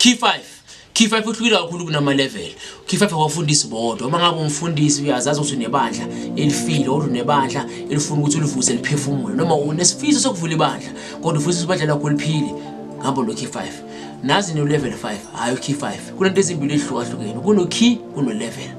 Key 5 Key 5 uhlukile kakhulu kunama level. Key 5 awafundisi bodwa. Uma ngabe umfundisi uyazazi ukuthi unebandla elifile or unebandla elifuna ukuthi ulivuse liphefumule noma unesifiso sokuvula ibandla kodwa ufisa ibandla lakho liphile ngabo lo key 5. Nazi no level 5 hayi key 5. Kunento ezimbili ezihlukahlukene. Kuno key kuno level.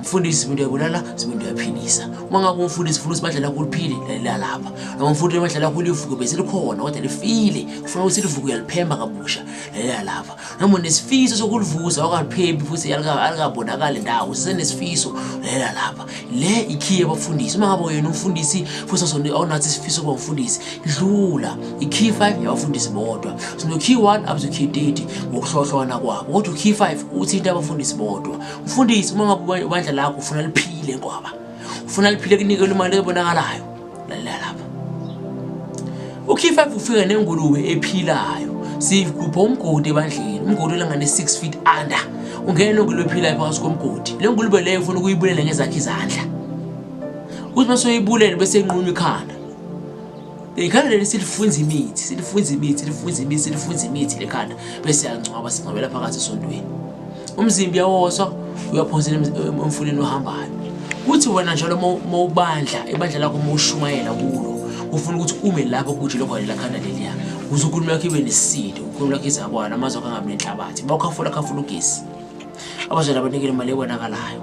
mfundisi simuntu uyabulala simuntu uyaphilisa uma ngabe umfundisi ufuna ukuthi badlala kulo uphile lalela lapha noma umfundisi uma badlala kulo ivuko bese likhona kodwa lifile ufuna ukuthi livuko uyaliphemba kabusha lalela lapha noma nesifiso sokulivuza okaliphembi futhi alikabonakali ndawo sisenesifiso lalela lapha le ikhiye abafundisi uma ngabe yena umfundisi futhi awunathi isifiso kuba umfundisi dlula ikhiye 5 yabafundisi bodwa sinokhiye 1 up to khiye 30 ngokuhlohlwana kwabo kodwa ukhiye 5 uthinta abafundisi bodwa Mfundisi uma ngabe ubandla lakho ufuna liphile ngoba ufuna liphile kunikele imali ebonakalayo lalela lapha ukhifa ufika nengulube ephilayo sigubha umgodi ebandleni umgodi olangane 6 feet under ungena nengulube ephilayo phakathi komgodi le ngulube leyo ufuna ukuyibulele ngezakhe izandla uthi bese uyibulele bese inqunywa ikhanda Ikhanda leli silifunza imithi, silifunza imithi, silifunza imithi, silifunza imithi lekhanda bese yangcwaba singcwabela phakathi esontweni. Umzimba uyawoswa uyaphonsela emfuleni ohambayo. Kuthi wena njalo uma ubandla, ibandla lakho uma ushumayela kulo, ufuna ukuthi ume lapho kuthi lokho lela khanda leliya. Uze ukhulume yakho ibe nesisindo, ukhulume yakho izabwana, amazwi akho angabi nenhlabathi. Bawukhafula khafula ugesi. abazali abanikele imali ebonakalayo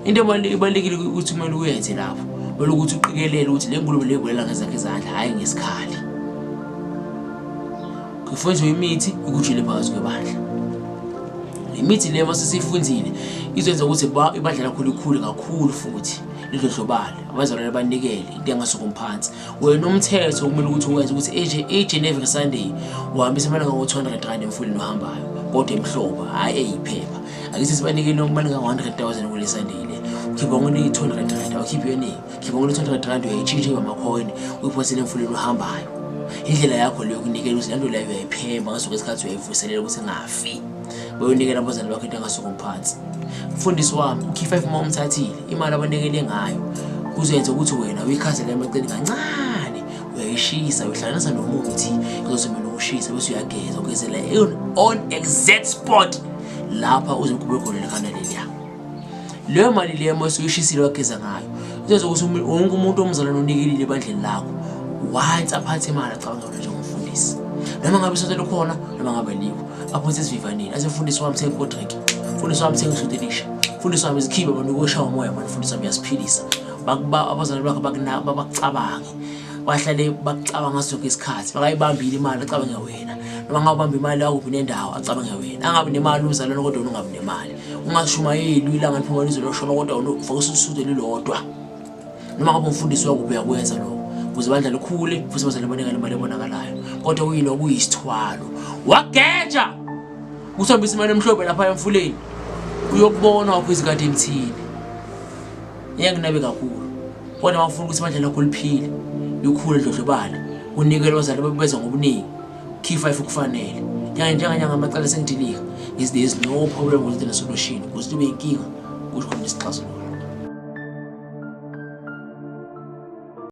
into ibalulekile ukuthi kumele uyenze lapho kumele ukuthi uqikelele ukuthi le ngulube leyibulela ngezakhe izandla hhayi ngesikhali kufunzwe imithi ikujile phakathi kwebandla le mithi le masesiyifunzile izoyenza ukuthi ibandla lakho likhule kakhulu futhi lidlodlobale abazalwane banikele into engasukumphansi wena umthetho kumele ukuthi uwenze ukuthi eje each and every sunday uhambisa amalanga ngo-200 rand emfuleni ohambayo kodwa emhlobo hhayi eyiphepha akithi sibanikele amalanga ngo-100000 kule sunday le ukhipha ngone i-200 rand awukhiphi yoningi ukhipha ngone i-200 rand uyayitshintsha ibamakhoni uyiphosele emfuleni ohambayo indlela yakho leyo kunikela ukuthi lento leyo uyayiphemba ngasoke isikhathi uyayivuselela ukuthi ngafi uyonikela abazali bakho into engasuka phansi mfundisi wami ukhifa ifuma umthathile imali abanikele ngayo kuzoyenza ukuthi wena uyikhansele emaceni kancane uyayishisa uyihlanganisa nomuthi kuzosebela ukushisa bese uyageza ugezela on exact spot lapha uzokhubeka khona likhanda leliya leyo mali leyo uma usuyishisile wageza ngayo izoze ukuthi wonke umuntu omzalwane onikelile ebandleni lakho once aphathe imali acabanga wena njengomfundisi noma ngabe isonto likhona noma ngabe likho aphonse esivivaneni asefundisi wami thenga ikodrink mfundisi wami thenga isudi elisha mfundisi wami izikhibe abantu ukweshawa umoya mani mfundisi wami uyasiphilisa abazalwane bakho bakucabange bahlale bakucabanga sonke isikhathi bakayibambile imali acabange wena noma ngawubamba imali yakuphi nendawo acabange wena angabi nemali umzalwane kodwa ungabi nemali ungashumayeli uyilanga liphuma lizwe loshona kodwa ufake ususude lilodwa noma ngabe umfundisi wakuphi uyakwenza lokho ukuze bandla likhule futhi bazale banikele imali ebonakalayo kodwa kuyilo kuyisithwalo wageja uthambisa imali emhlophe lapha emfuleni uyokubona wakho izikade emthini iyanginabe kakhulu kodwa uma ufuna ukuthi ibandla lakho liphile likhule dlodlobale unikele abazali babeza ngobuningi Key 5 ukufanele. Nyanga njenganye ngamacala esengidilika. Is there is no problem with the solution. Kuze kube inkinga kusho khona isixazululo.